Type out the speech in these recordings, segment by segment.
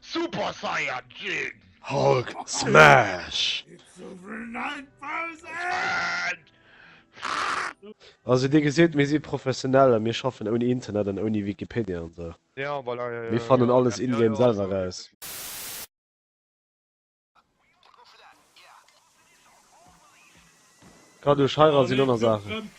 Super Saiyajin! Hulk Smash! Also dir gesit mir si professionell a mir schaffen ouni Internet an ouni Wikipedia an sou. Mir fannen alles in-game selwer raus. Grad duerch Heirat sinn aner Saachen.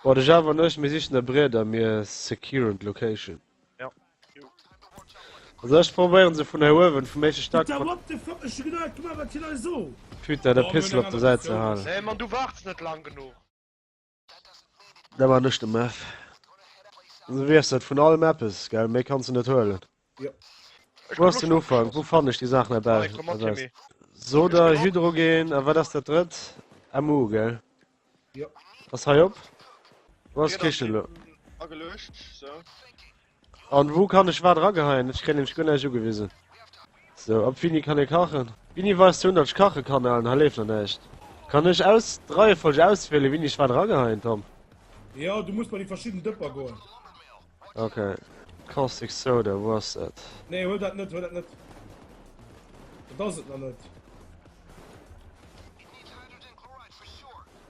Boah de Java an ech mir sichen e Briet a mir securen location. Also ech probéieren se vun hei uewen vum éischte Stack Putain der Pixel op der Säit ze halen. Da war nech de Meth. Du weess et, vun allem eppes, gell? Méi kanns de net huelen. Jo. Ech Wou komm ass och den schon. Ufank? Wou fannen ech déi Saachen Wait, erbäi? komm mat, Timmy. Ech Soda, komm och. Hydrogen a wat ass dat drëtt? MU, gell? Jo. Ass hei op? Wou ass D'Dier ass d'Kichen elo? eben ageluecht, sou. An wou kann ech wat rageheien? Ech kréien nämlech guer näischt ugewisen. Sou, ab wéini kann ee kachen? Wini weist ze hunn, datt ech kache kann? Alen, hei leeft nach näischt. Kann ech aus d'Reiefolg auswielen, wini ech wat rageheien, Tom? Jo, du muss bei déi verschidden Dëpper goen. Ok. Caustic Soda, wou ass dat? Nee, huel dat net, huel dat net. Dat ass et nach net.